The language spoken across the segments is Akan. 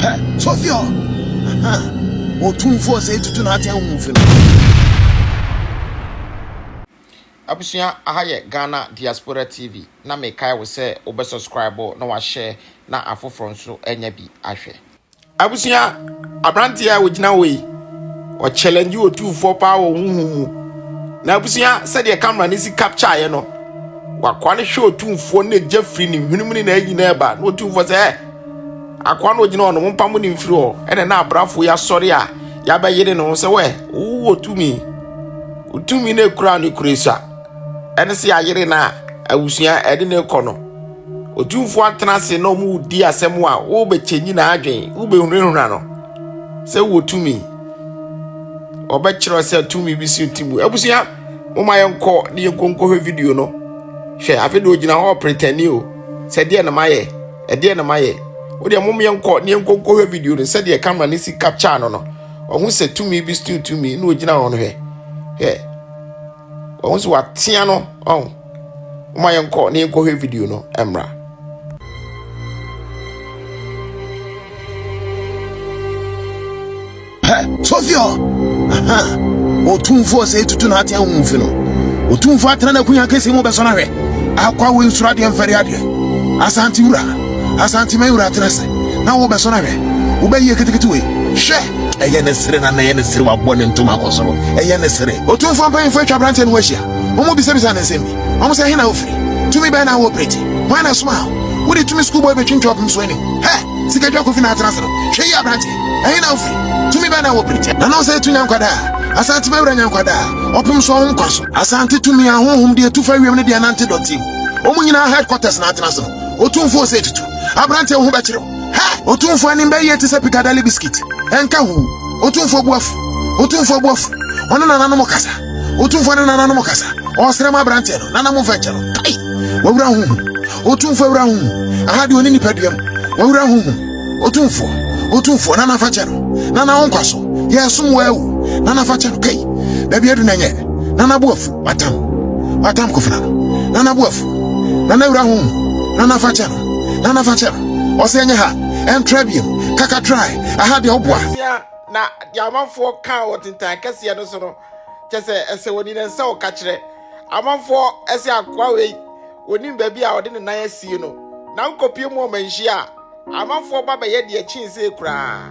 Hɛ, Sofia! Aha! Otumfoɔ sɛe tutu n'atɛn ho fi no. Abusua aha yɛ Ghana Diaspora TV na mekae wo sɛ wobɛ subscribe na wa share na afoforɔ nso anya bi ahwɛ. Abusua, aberanteɛ a ɔgyina hɔ yi, ɔkyɛlɛngye otumfoɔ paa wɔ honhom mu. Na abusua, sɛdeɛ camera no si captureeɛ no, wakoa no hwɛ otumfoɔ no gya firi ne hwenem ne n'ayi no ɛba na otumfoɔ sɛ, ɛ akoa no ɔgyina hɔ no, mompa mo ne mfiri hɔ. Ɛna na abrafoɔ yi asɔre a yɛabɛyere ne ho sɛ, wɛ, wowɔ tumi. Wotumi no ɛkura no kura sua. Ɛne sɛ yɛayere no a, abusua ɛde no rekɔ no. Otumfoɔ atena ase na wɔredi asɛm a wobɛkyɛ nyinaa adwen, wobɛhunahuna no sɛ wɔ tumi. Wɔbɛkyerɛ sɛ tumi bi si ti mu. Abusua, moma yɛnkɔ ne yɛnkɔ nkɔhwɛ video no. Hwɛ, afei deɛ ɔgyina hɔ pretɛni o, sɛ deɛ na mayɛ, ɛdeɛ na mayɛ. Wodeɛ mom yɛnkɔ ne yɛnkɔ nkɔhwɛ video no sɛdeɛ camera no si capture no no. Ɔho sɛ tumi bi si tumi na ɔgyina hɔ no hwɛ. Hwɛ. wɔn nso watea no ɔn wɔn a yɛnkɔ na yɛnkɔhwɛ video no mmra. sofio ɔtumfoɔ sɛ ɛtutu no atea wo mfi no ɔtumfoɔ atena no akunya kɛsi mu bɛsɔ no ahwɛ akwa wo nsuro adeɛ mfɛre adeɛ asante wura asante ma wura atena sɛ na wobɛsɔ no ahwɛ wobɛyie ketekete wei hwɛ Ɛyɛ ne sere na na ɛyɛ ne sere wabɔ ne ntoma akɔ soro. Ɛyɛ ne sere. Otumfoɔ mpanyimfo atwa aberanteɛ no ho ahyia. Wɔbisabisaa no nsɛm bi. Wɔn sɛ, He na wofiri? Tumi bɛn na woreoperate? Hwan na ɛsomaa wo? Wode tumi skuulbɔɔl betwintwa ɔpem so anim? Hɛ! Sika dwa kofi na atena ase no. Hwɛ yie aberanteɛ. Ɛhe na wofiri? Tumi bɛn na woreoperate? Na na ɔsɛ etu Nyankwadaa. Asante bɛwura Nyankwadaa. Ɔpem so ɔhomkwa so. Asante tumi a honhom de etu fa wiem ne deɛ ɛnante dɔteɛ mu. Wɔn nyinaa headquarters na atena ase no. Otumfoɔ sɛ tutu. Aberanteɛ wo ho bɛkyere wo. Ha! Otumfoɔ anim bɛyɛɛ te sɛ Piccadilly biscuit. Ɛnka ho. Otumfoɔ bo afu. Otumfoɔ bo afu. Ɔne nananom kasa. Otumfoɔ ne nananom kasa. Ɔresrɛ ma aberanteɛ no. Nana momfa nkyɛ no. Kai! W'awura ho hu. Otumfoɔ awura ho hu. Aha deɛ ɔne nipadua mu. W'awura ho hu. Otumfoɔ. Otumfoɔ, Nana fa kyɛ no. Nana wo nkwa so. Yɛresom wo awu. Nana fa kyɛ no. Kai! Baabi adu no ɛnyɛ. Nana bo afu. Watam. Watam Kofena no. Nana bo afu. Nana awura ho hu. Nana fa kyɛ no. Nana fa kyɛm. Ɔsɛ ɛnyɛ ha. Ɛntra biam. Kaka try. Aha deɛ ɔboa. Asia na deɛ amanfoɔ kaa wɔ tentan kɛseɛ no so no kyɛ sɛ ɛsɛ wɔni ne nsa ɔka kyerɛ amanfoɔ ɛsɛ akoa wei wɔnim baabi a ɔde ne nan asie no na nkɔpie mu ɔmanhyia a amanfoɔ ba bɛyɛ deɛ kyee sei koraa.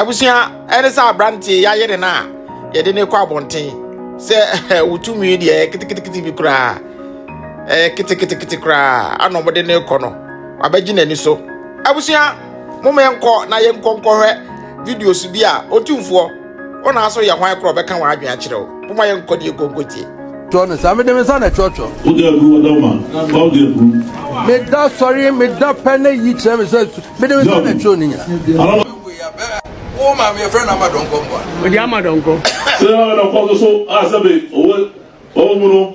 abusua ɛne sɛ aberanteɛ yɛayere no a yɛde ne kɔ abɔnten sɛ wotumi deɛ ketekete bi koraa ɛyɛ ketekete koraa ana ɔmode ne kɔ no wabɛgye n'ani so abusua Moma yɛnkɔ na yɛnkɔ nkɔhwɛ videos bi a Otumfoɔ, wo na so yɛ hwan korɔ bɛka wɔn adwene akyerɛ wo. Moma yɛnkɔ ne yɛnkɔ nkɔtie. Twɔ no saa, mede me nsa na ɛtwɔtwɔ. Wode agu ɔdɔ ma, ba wode agu. Meda sɔre, meda pɛ na yi kyerɛ me sɛ su. Mede me nsa na ɛtwɔn ne nyina. Wo maame yɛfrɛ no ama dɔnkɔ mboa. Odi ama dɔnkɔ. Sɛ ama dɔnkɔ nso so a sɛbe ɔwɔ ɔwɔ mu no.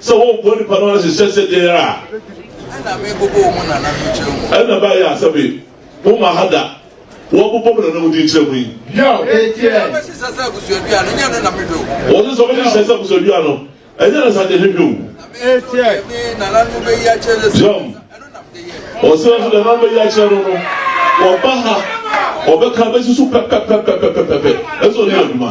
Sɛ wɔbɔ nipa no ahyehyɛ sɛdeɛ a. Ɛna mebobɔ wɔn nananom kyerɛ mu. Ɛna ɛbaeɛ a sɛ me, mo ma ha da, wɔbobɔ mo nananom din kyerɛ mu yi. Yaw, enti ɛ. Wɔbɛhyehyɛ sɛ abusuadua no, ɛnyɛ no na mehwɛ o. Wɔse sɛ wɔbɛhyehyɛ sɛ abusuadua no, ɛnyɛ no sa deɛ mehwɛ o. Enti ɛ. Me nananom bɛyi akyerɛ no sɛ. Yaw, wɔse nso deɛ nananom bɛyi akyerɛ no no, wɔba ha, wɔbɛka bɛsusu pɛpɛpɛpɛpɛpɛpɛ, ɛsɛ ɔne adwuma.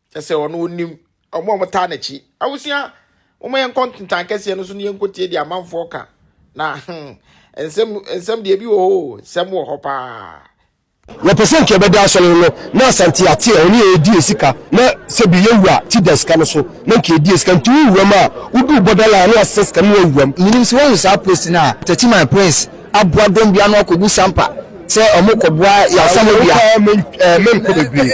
Kyɛ sɛ ɔno onim wɔn a wɔtaa n'akyi. Abusua, wɔn yɛn nkɔ ntentan kɛseɛ no so ne yɛn nkɔ tie deɛ amanfoɔ ka. Na hmm, nsɛm nsɛm deɛ ebi wɔ hɔ o, nsɛm wɔ hɔ paa. Yɛpɛ sɛ nka yɛbɛda asɔre no no na Asante ate a ɔne yɛn redi asika na sɛ bi yɛ wura ti da sika no so na nka yɛdi asika nti wo wuram a woduu border line a na wasesa sika no na wawuram. Menim sɛ woahu saa post no a Techiman Prince aboa dɔm bi ano akɔgu sampa sɛ ɔmo kɔboa yasam obi a. menkɔ bebree.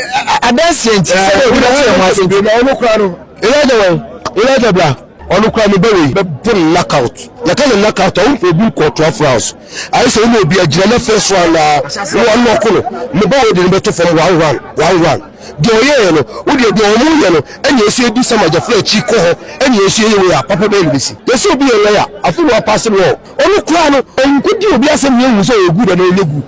adanseɛ nti sɛdeɛ obi bɛte yɛn ho ase nti. na ɔno kora no elijah wɛn elijah bra ɔno kora no bɛwɔ yi bɛbɔ no knockout yɛka no knockout a wonkɔ obi nkɔ ɔtoa frows ayɛ sɛ wone obi agyina no afɛ so anaa wɔno ɔko no ne bɛwɔ de no bɛto fam one one one one deɛ ɔyɛɛ no wodeɛ deɛ ɔmo yɛ no ɛne ɛsɛ ɛdu sɛ magyafra akyi kɔ hɔ ɛne ɛsɛ ɛyɛ wei a papa bɛyɛ no bɛsi yɛsɛ obi yɛ lɔya afei na wapase no Ɔno koraa no, ɔnkɔdi obi asɛm na yɛahu sɛ ɔyɛ good anaa ɔnyɛ good.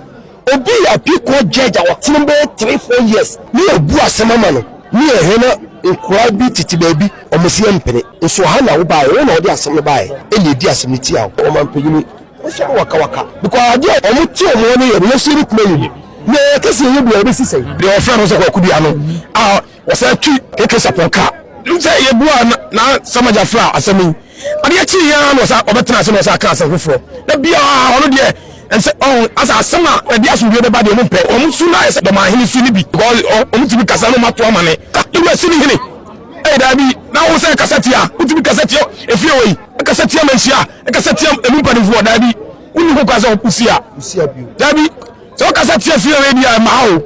Obi yɛ Appeal Court Judge a watena mu bɛyɛ three, four years na yɛabu asɛm ama no ne yɛn hɛn a nkwadaa bi tete baabi wɔn se yɛmpene nso ha na wobaeɛ, wo na wode asɛm no baeɛ ɛna yɛdi asɛm no tiaa wo. Ɔmanpanin nso no wakawaka because adeɛ a wɔn te wɔn hɔ no yɛ no yɛn nso yɛbɛtumi ayɛ bi na yɛka sɛ yɛnyɛ bi a ɛbɛsi sɛn. Deɛ wɔfrɛ no sɛ Kwaku Duah no a. Wɔsan tui KK Sarpong ka sɛ, Yebuaa no na Samaja fraa asɛm yi. Adeɛ kyee yi ara na ɔsan ɔbɛtenaa ase na ɔsan kaa asɛm foforɔ. Da biara ɔno deɛ ɛnsɛ ɔho asɛ asɛm a ɛde asomdwoeɛ bɛba deɛ wɔmpɛ. Wɔn su no ayɛ sɛ dɔmanhene su no bi because wɔtumi kasa na wɔato ama ne ka. Ne wura Sini hene ɛyɛ daabi na wo sɛ ɛkasa tia a wotumi kasa tia efie wei, ɛkasa tia manhyia, ɛkasa tia emu mpanimfoɔ daabi. Wonni ho kwan sɛ wosi a daabi. Sɛ wo kasa tia fie wei bia ɛma o.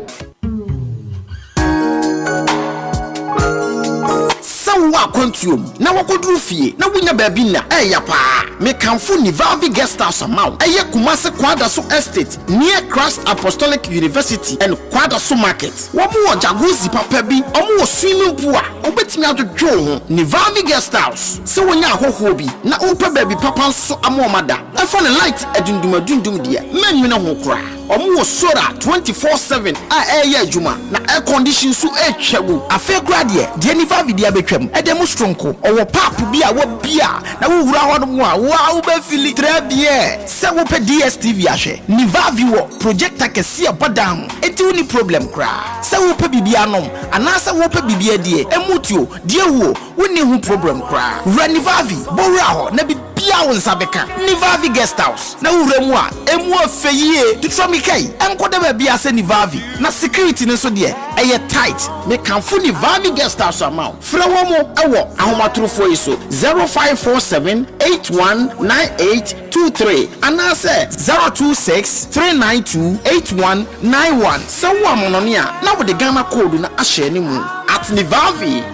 Sɛ wowɔ akwantuo mu na wakɔduru fie na wonya baabi nna a ɛya paa mekamfo Nivavi Guest House ama wo. Ɛyɛ Kumasi Kwadaso Estate near Christ Apostolic University and Kwadaso Market. Wɔn wɔ Jacuzzi papa bi, wɔn wɔ swimming pool a wobɛtumi adwodwo wo ho. Nivavi Guest House, sɛ wonya ahɔhoɔ bi na wopɛ baabi papa nso ama wɔn ada. Ɛfa ne light adundumadundum deɛ, mɛnnwene ho koraa. Wɔn wɔ solar twenty four seven a ɛreyɛ adwuma, na air condition nso retwa mu. Afei koraa deɛ, deɛ nifa afidie abɛtwam de mu soronko. Wɔwɔ paap bi a wɔbue a, na wowura hɔ nom a, wo ara wobɛ fili très bien sɛ wopɛ DSTV ahwɛ. Nivavi wɔ projector kɛseɛ a ɛbɔ dan ho, enti wonni problem koraa sɛ wopɛ biribi anom anaasɛ wopɛ biribi adie, ɛmu tuo, deɛ wuo, Wonni ho problem koraa. Wura Nivavi, bɔ wura hɔ na biribiara a wo nsa bɛka, Nivavi Guest House, na wowura mu a, ɛmu yɛ fɛ yie. To twa mmirika yi nkɔda baabiara sɛ Nivavi, na security no nso deɛ, ɛyɛ tight. Mekamfo Nivavi Guest House ama wo. Frɛ wɔn wɔ ahomatorofoɔ yi so, zero five four seven eight one nine eight two three anaasɛ zero two six three nine two eight one nine one sɛ wowɔ amanɔne a na wode Ghana koodu no ahyɛ ne mu. At Nivavi.